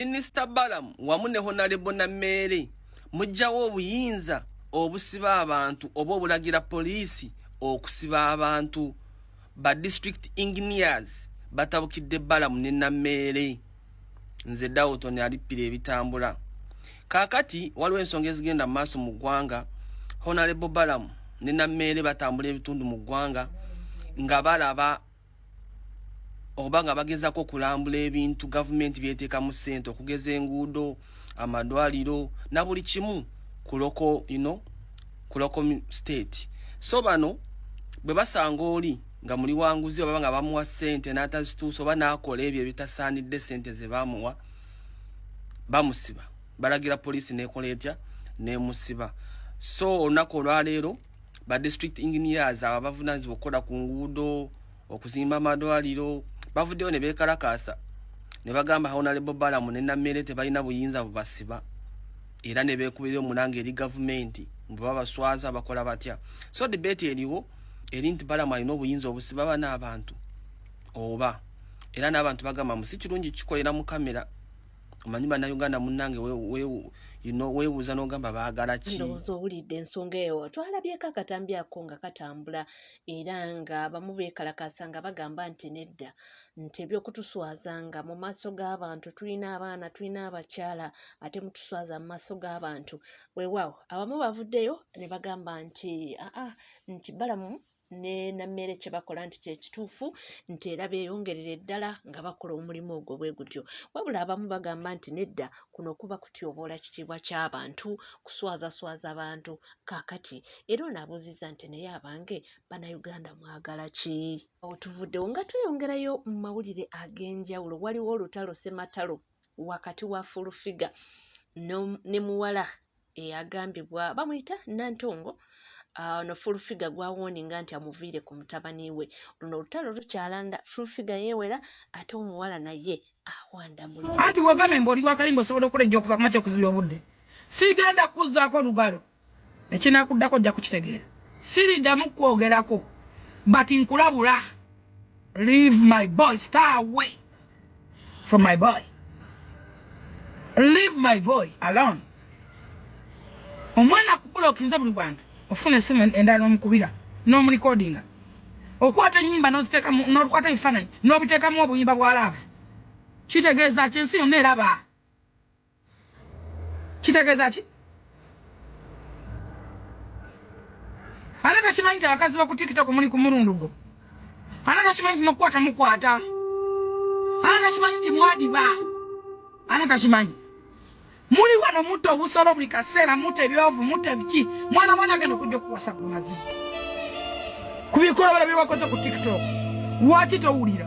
Minisita Balamu wamu ne Honalebo Nameere mujjawo obuyinza obusiba abantu oba obulagira poliisi okusiba abantu ba district engineers batabukidde Balamu ne Nameere nze Dawton alippira ebitambula kakati waliwo ensonga ezigenda mu maaso mu ggwanga Honalebo Balamu ne Nameere batambula ebitundu mu ggwanga nga balaba oba nga bagezako okulambula ebintu gavumenti byeteekamu ssente okugeza enguudo amadwaliro na buli kimu ku loko you know, ku loko state so bano bwe basanga oli nga muli wanguzi oba nga bamuwa ssente n'atazituusa oba n'akola ebyo ebitasaanidde ssente ze bamuwa bamusiba balagira poliisi n'ekola etya n'emusiba so olunaku olwaleero ba district engineers abo abavunanyizibwa okukola ku nguudo okuzimba amalwaliro bavuddeyo ne beekalakaasa ne bagamba honalebo balamu ne nammere tebalina buyinza bubasiba era ne beekubira omulanga eri gavumenti mbu babaswaza bakola batya so debate eriwo eri nti balamu alina obuyinza obusiba bana abantu oba era n'abantu bagamba mu si kirungi kikolera mu kamera omanyi bannayuganda munnange weebuuza n'ogamba baagala ki ndowooza owulidde ensonga eyo twalabyeko akatambi ako nga katambula era nga bamu beekalakaasa nga bagamba nti nedda nti ebyokutuswaza nga mu maaso g'abantu tulina abaana tulina abakyala ate mutuswaza mu maaso g'abantu weewaawo abamu bavuddeyo ne bagamba nti aa nti balamu ne na mmere kye bakola nti kyekituufu nti era beeyongerere ddala nga bakola omulimu ogwo bwe gutyo wabula abamu bagamba nti nedda kuno kuba kutyoboola kitiibwa ky'abantu kuswazaswaza bantu kaakati era ono abuuzizza nti naye abange bannayuganda mwagala ki awo tuvuddewo nga tweyongerayo mu mawulire ag'enjawulo waliwo olutalo sematalo wakati wa fulufiga ne muwala eyagambibwa bamuyita nantongo ah, ono fulufiga gwawoninga nti amuviire ku mutabani we luno olutalo lukyalanda fulufiga yewera ate omuwala naye awandamuanti wagambye mbu oli wakayimba osobola okukola ejja okuva kumakya okuzibya obudde sigenda kukuzaako olugalo Ekinakuddako ojja kukitegeera. Siridamu kwogerako but nkulabula leave my boy stay away from my boy leave my boy alone omwana kubulokinze buli wantu ofuna esimu endala nomukubira nomulikodinga okwata enyimba nozitekamu nokwata ebifananyi nobitekamu obuyimba bwa laavu kitegeeza ki ensi yonna eraba kitegeeza ki ate takimanyi ti abakazi baku tiktok muli kumulundu gwo ate takimanyi ti nokukwata mukwata ate takimanyi ti mwadiba ate takimanyi muli wano mutta obusolo buli kaseera mutta ebyovu mutta ebiki mwana mwana agenda okujja okuwasa ku mazibu ku bikolobero byewakoze ku tiktok lwaki towulira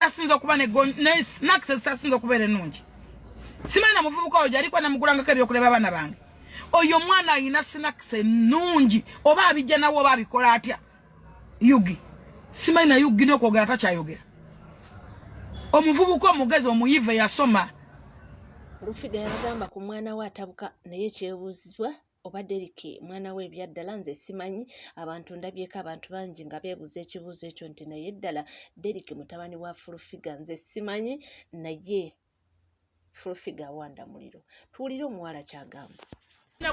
asinza okuba ne snacks ezisasinza okubeera ennungi simanyi na muvubuka oyo gyaliko namugulangako ebyokuleba abaana bange oyo omwana alina snacks ennungi oba abijja nawe oba abikola atya yugi simanyi na yugi nokwogera takyayogera omuvubuka omugezi omuyive yasoma rufida yabagamba ku mwana we atabuka naye kyebuuzibwa oba Derrick mwana we ebyaddala nze simanyi abantu ndabyeko abantu bangi nga beebuuza ekibuuzo ekyo nti naye ddala Derrick mutabani wa fulufiga nze simanyi naye fulufiga awanda muliro tuwulire omuwala kyagamba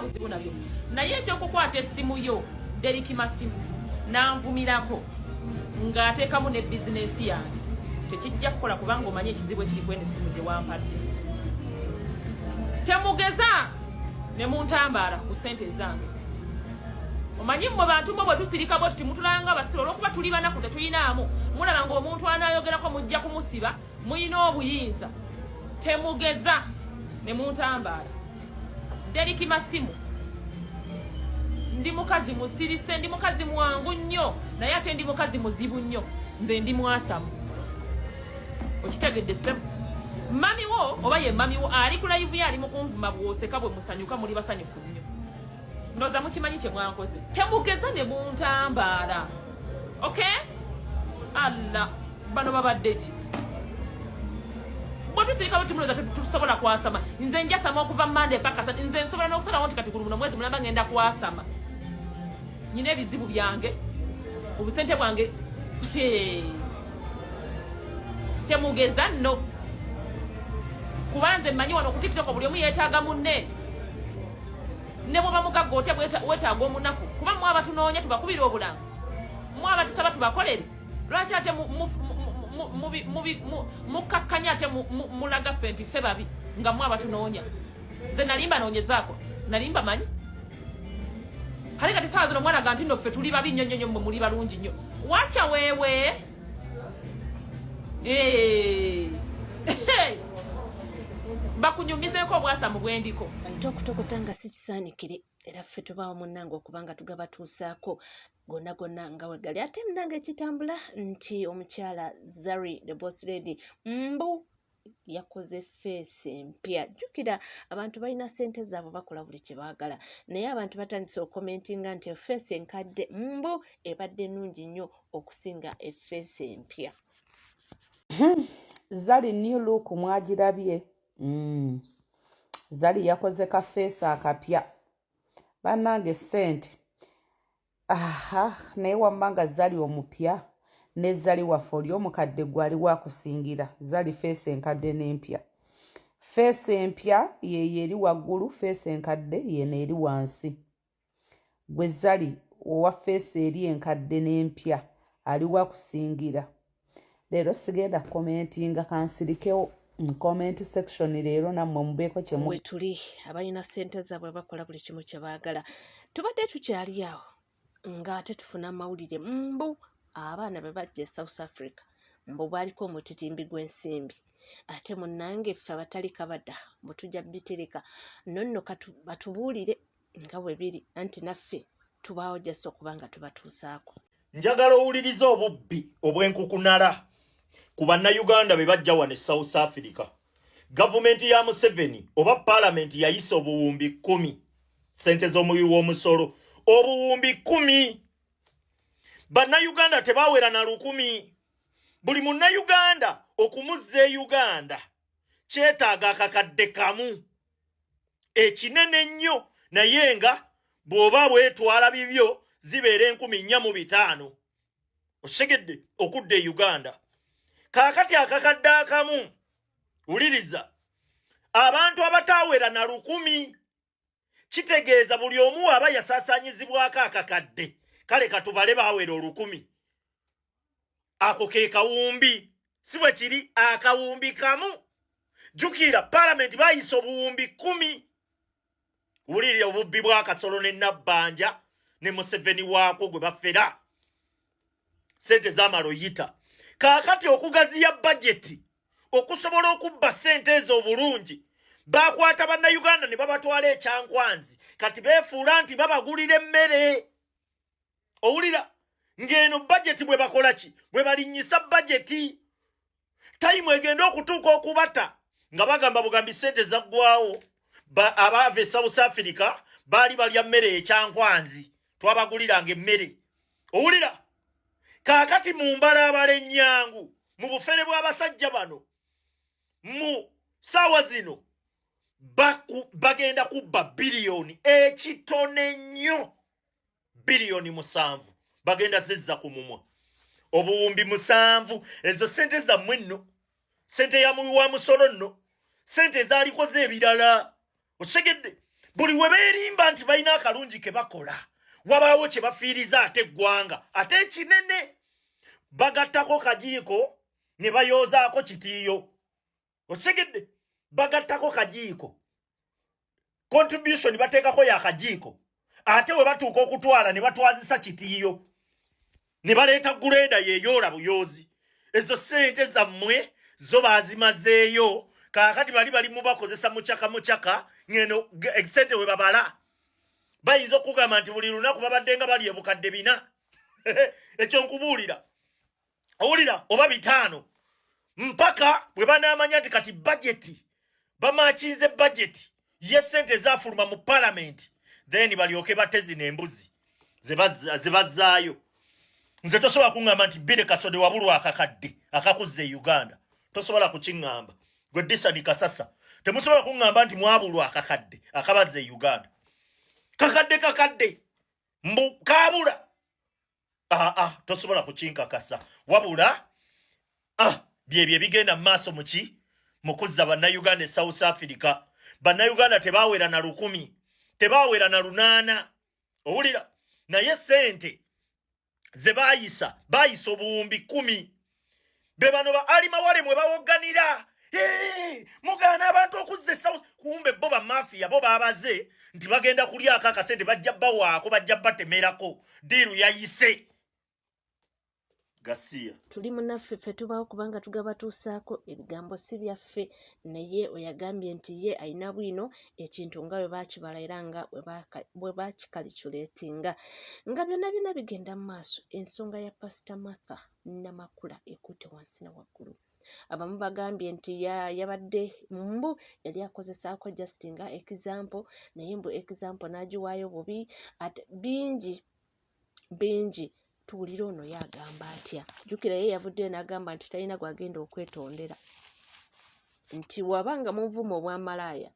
buzibu nabyo naye ekyokukwata essimu yo Derrick masimu nanvumirako ng'ateekamu ne bizinensi yange tekijja kukola kubanga omanyi ekizibu ekiri kwene essimu gyewampadde temugeza ne muntambaala ku ssente zange omanyi mmwe bantu mmwe bwe tusirika bwe tuti mutulanga abasiru olwokuba tuli banaku tetuyinaamu mulaba nga omuntu anaayogerako mujja kumusiba muyina obuyinza temugeza ne muntambaala deriki masimu ndi mukazi musirise ndi mukazi mwangu nnyo naye ate ndi mukazi muzibu nnyo nze ndi mwasamu okitegedde sebo mami wo oba ye mami wo ali ku live ye ali mu kunvuma bwoseka bwe musanyuka muli basanyufu nnyo ndoza mukimanyi kye mwankoze temugeza ne buntambaala ok alla bano babadde ki bwetusirika bwetumunooza tusobola kwasama nze njasama okuva mande paka nze nsobola n'okusalawo nti kati gulumu nomwezi mulamba ngenda kwasama nyina ebizibu byange obusente bwange temugeza nno kubanze mmanyi wano ku tiktok buli omu yeetaaga munne ne bwoba mugagga otya weetaaga omunaku kuba mwe abatunoonya tubakubira obulamu mwe abatusaba tubakolere lwaki ate mukkakkanya ate mulaga ffe nti ffe babi nga mwe abatunoonya nze nalimba noonyezaako nalimba manyi kale kati saawa zino omwana ga nti no ffe tuli babi nnyo nnyo nnyo mwe muli balungi nnyo wacha wewe eh. bakunyumizeko obwasa mu bwendiko ate okutokota nga si kisaanikire era ffe tubaawo munnange okuba nga tugabatuusaako gonna gonna nga wegali ate munnange ekitambula nti omukyala zari the boss lady mbu yakoze feesi empya jjukira abantu balina ssente zaabwe bakola buli kye baagala naye abantu batandise okukomentinga nti efeesi enkadde mbu ebadde nnungi nnyo okusinga efeesi empya hmm. zali new look mwagirabye hmm. zali yakoze kafeesi akapya bannange ssente aha naye wamma nga zali omupya ne zali waffe oli omukadde gwe ali wakusingira zali feesi enkadde n'empya feesi empya yeyo eri waggulu feesi enkadde yeno eri wansi gwe zali owa feesi eri enkadde n'empya ali wakusingira leero sigenda kukomentinga kansirikewo mu comment section leero nammwe mubeeko kyemwetuli abalina sente zaabwe bakola buli kimu kye baagala tubadde tukyali awo ng'ate tufuna amawulire mbu abaana be bajja e south africa mbu baaliko omutitimbi gw'ensimbi ate munnange ffe abatali kabada mbu tujja bitereka nonno batubuulire nga bwe biri anti naffe tubaawo jasi okuba nga tubatuusaako njagala owuliriza obubbi obw'enkukunala ku bannayuganda be bajja wano e south africa gavumenti ya museveni oba paalamenti yayisa obuwumbi kumi sente z'omuwi w'omusolo obuwumbi kumi bannayuganda tebawera na lukumi buli munnayuganda okumuzza e uganda kyetaaga akakadde kamu ekinene ennyo naye nga bw'oba bwetwala bibyo zibeera enkumi nnya mu bitaano osegedde okudda e uganda kaakati akakadde akamu wuliriza abantu abataawera na lukumi kitegeeza buli omu waaba yasaasaanyizibwako akakadde kale katubale baawera olukumi ako ke kawumbi si bwe kiri akawumbi kamu jukira palamenti bayisa obuwumbi kumi wulirire obubbi bwakasolo ne nabbanja ne museveni waako gwe bafera sente zamala oyita kaakati okugaziya bajeti okusobola okubba sente ezo obulungi bakwata bannayuganda ne babatwala ekyankwanzi kati beefuula nti babagulira emmere owulira ng'eno bajeti bwe bakola ki bwe balinnyisa bajeti tayimu egenda okutuuka okubata nga bagamba bugambi ssente zaggwawo abaava e south africa baali balya mmere ekyankwanzi twabaguliranga emmere owulira kaakati mu mbala abala ennyangu mu bufere bw'abasajja bano mu saawa zino bagenda kubba biliyoni ekitone nnyo biliyoni musanvu bagenda zizza ku mumwa obuwumbi musanvu ezo sente zammwe nno sente ya muwi wa musolo nno sente ezalikoze ebirala okitegedde buli we beerimba nti balina akalungi ke bakola wabaawo kye bafiiriza ate eggwanga ate ekinene bagattako kajiiko ne bayoozaako kitiiyo okitegedde bagattako kajiiko contribution bateekako ya kajiiko ate we batuuka okutwala ne batwazisa kitiiyo ne baleeta guleeda yeyoola buyoozi ezo sente zammwe zo baazimazeeyo kaakati bali bali mubakozesa mucaka mucaka ngeno sente we babala bayinza okugamba nti buli lunaku babadde nga bali ebukadde bina ekyo nkubuulira owulira oba bitaano mpaka bwe banaamanya nti kati bajeti bamakinze bajeti ye sente ezafuluma mu palamenti then balyoke bate zino embuzi zebazzaayo nze tosobola kuŋŋamba nti bire kasode wabulwa akakadde akakuzza e uganda tosobola kukiŋŋamba gwe disani kasasa temusobola kuŋŋamba nti mwabulwa akakadde akabazza e uganda kakadde kakadde mbu kaabula aa ah, tosobola kukinkakasa wabula ah, byebyo ebigenda mu maaso muki mukuzza bannayuganda e south africa bannayuganda tebawera na lukumi tebawera na lunaana owulira naye sente ze bayisa bayisa obuwumbi kumi be bano ba ali mawale mwe bawogganira mugaana abantu okuzza esawo kumbe bo bamafiya bo babaze nti bagenda kulyako akasente bajja bawaako bajja batemerako diiru yayise gasiya tuli munaffe ffe tubawo kubanga tugabatuusaako ebigambo si byaffe naye oyagambye nti ye alina bwino ekintu nga bwe bakibala era nga bwe bakikaliculetinga nga byonna byonna bigenda mu maaso ensonga ya pasita martha namakula ekutte wansi na waggulu abamu bagambye nti yabadde mbu yali akozesaako just nga example naye mbu example n'agiwaayo bubi at bingi bingi tuwulira ono ye agamba atya jjukira ye yavuddeyo n'agamba nti talina gwagenda okwetondera nti waba nga munvuma obwamalaaya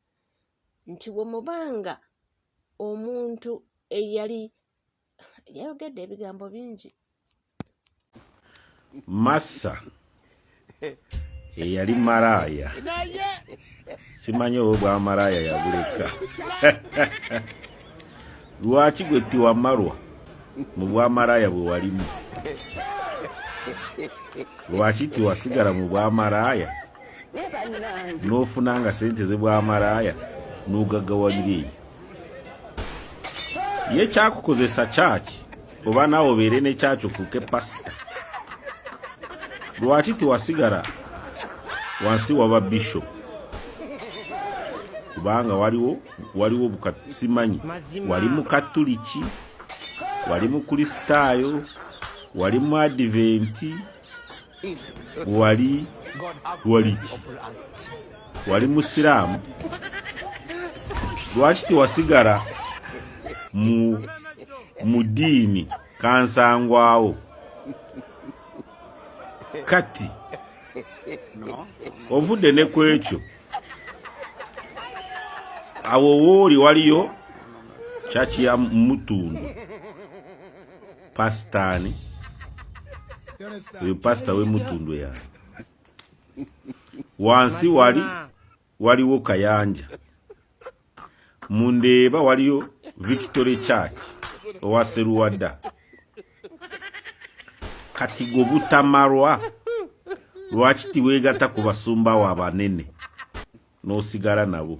nti wemubanga omuntu eyali yayogedde ebigambo bingi massa eyali malaaya simanyi oba bwamalaaya yabuleka lwaki gwe tiwamalwa mu bwamalaaya bwe walimu lwaki tiwasigala mu bwamalaaya n'ofuna nga sente ze bwamalaaya n'ogagawalira eyo ye kyakukozesa kyaki oba naawe obeere ne kyaki ofuuke pasita lwaki tewasigala wansi waba bishop kubanga waliwo waliwo bukasimanyi wali mukatuliki wali mukristaayo wali mu adiventi wali waliki wali musiraamu lwaki tewasigala mu mu diini kansangwawo kati ovudde ne ku ekyo awo wooli waliyo kyaki ya mutundu pasitani uyu pasita wemutundwe yani wansi wali waliwo kayanja mundeeba waliyo victory church owa seruwada kati gwe butamalwa lwaki tiweegata ku basumba wo abanene n'osigala nabo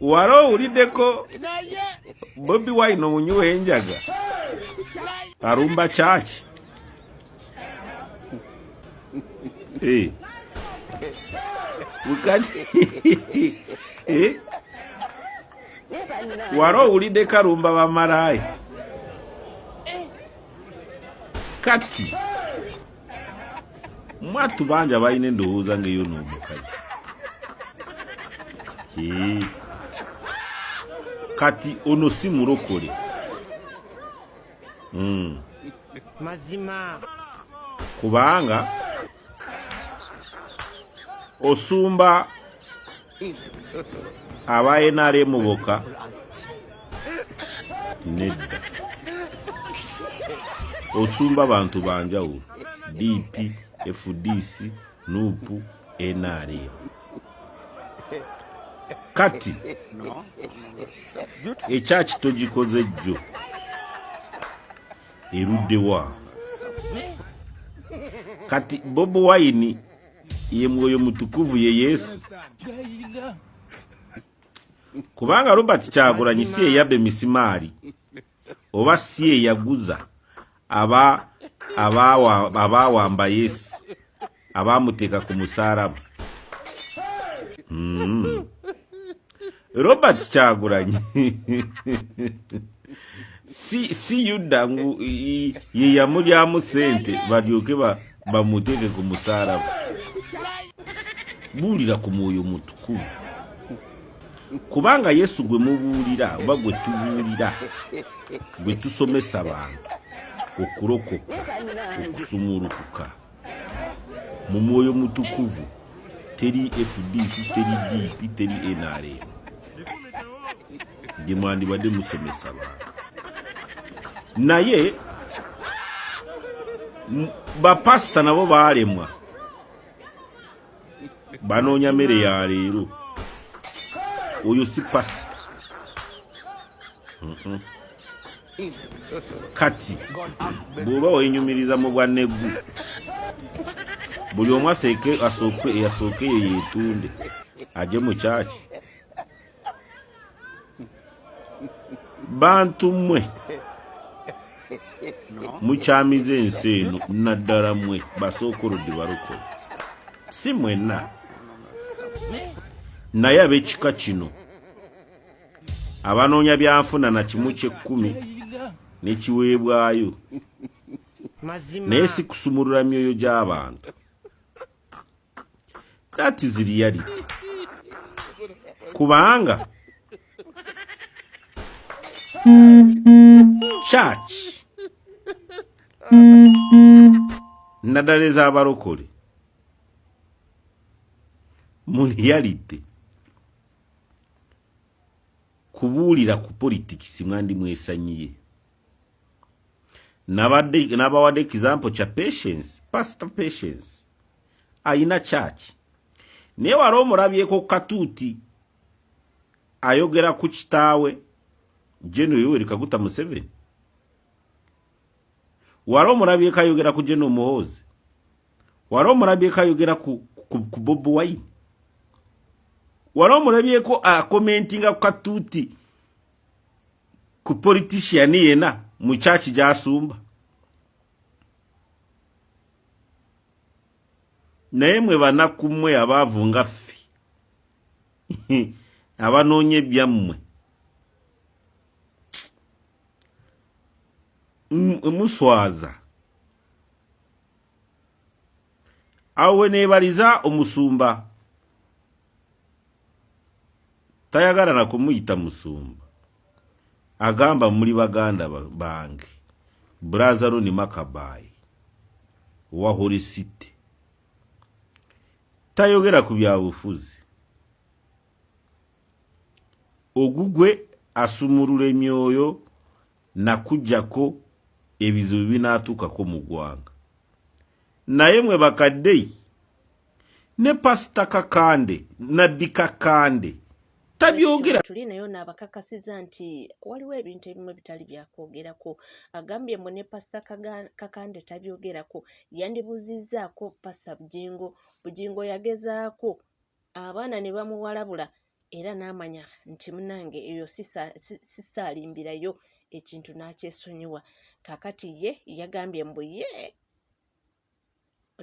wali owuliddeko bobi wine omunywi w'enjaga alumba kyaki eh. eh? wali owuliddeko alumba bamalaaya kati mwattu bangi abalina endowooza ngaeyo n'omukazi kati ono si mulokole hmm. mazima kubanga osumba aba nrm boka nedda osumba bantu banjawulo dp fdc nupu nrm kati ekyaki togikoze jjo eruddewa kati bobi wine ye mwoyo mutukuvu ye Yesu kubanga Robert Kyagulanyi si eyabba emisimaali oba si eyaguza aba abaawamba Yesu abaamuteeka ku musalaba mm. Robert Kyagulanyi si si yuda ngu ye yamulyamu sente balyoke bamuteeke ku musalaba buulira ku mwoyo mutukuvu kubanga yesu gwe mubuulira oba gwe tubuulira gwe tusomesa bantu okulokoka okusumulukuka mu mwoyo mutukuvu teri fdc teri dp teri nrm ndi mwandibadde musomesa bantu naye bapasita nabo baalemwa banoonya mere ya leero oyo si pasita kati bw'oba wenyumiriza mu bwa neggu buli omu asooke eyo yetunde aje mu kyaki bantu mmwe mukyamiza ensi eno naddala mmwe basookolodde balokole si mwenna naye ab'ekika kino abanoonya byanfuna na kimu kyekkumi nekiweebwayo naye sikusumulula myoyo gy'abantu that is reality kubanga church naddala ez'abalokole mu reality kubuulira ku politikisi mwandi mwesanyiye nabawadde example kya patience pastor patience alina church naye wali omulabyeko katuuti ayogera ku kitaawe jeno yoweri kaguta museveni wali omulabyeko ayogera ku jeno muhoozi wali omulabyeko ayogera ku, ku, ku bobi wine wali omulabyeko akomentinga ku katuuti ku politician yena mu church gyasumba naye mwe banaku mwe abaavu nga ffe abanoonya ebyammwe muswaza awo weneebaliza omusumba tayagala na kumuyita musumba agamba muli baganda bange brazaroni makabayi owa holy city tayogera ku byabufuzi ogugwe asumulula emyoyo nakujjako ebizibu binatuukako mu ggwanga naye mwe bakadei ne pasita kakande nabbi kakande tabyogera tuli naye ono abakakasiza nti waliwo ebintu ebimu bitali byakwogerako agambye mbu ne pasita kakande tabyogerako yandibuzizaako pasita bujingo bujingo yagezaako abaana ne bamuwalabula era n'amanya nti munange eyo sisaalimbirayo ekintu n'akyesonyiwa kakati ye yagambye mbu ye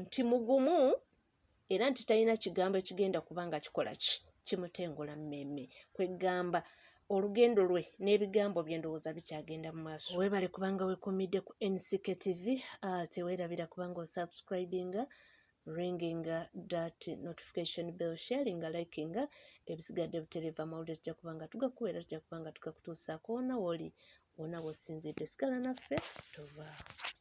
nti mugumu era nti talina kigambo ekigenda kuba nga kikola ki kimutengola mmeeme kweggamba olugendo lwe n'ebigambo bye ndowooza bikyagenda mu maaso weebale kubanga wekumidde ku nck tv ah, teweerabira kubanga osubscribinga ringinga dat notification bell sharinga likinga ebisigadde butereeva amawulire tujja kuba nga tugakuwa era tujja kuba nga tugakutuusaako wona woli wona wosinzidde sigala naffe tovaawo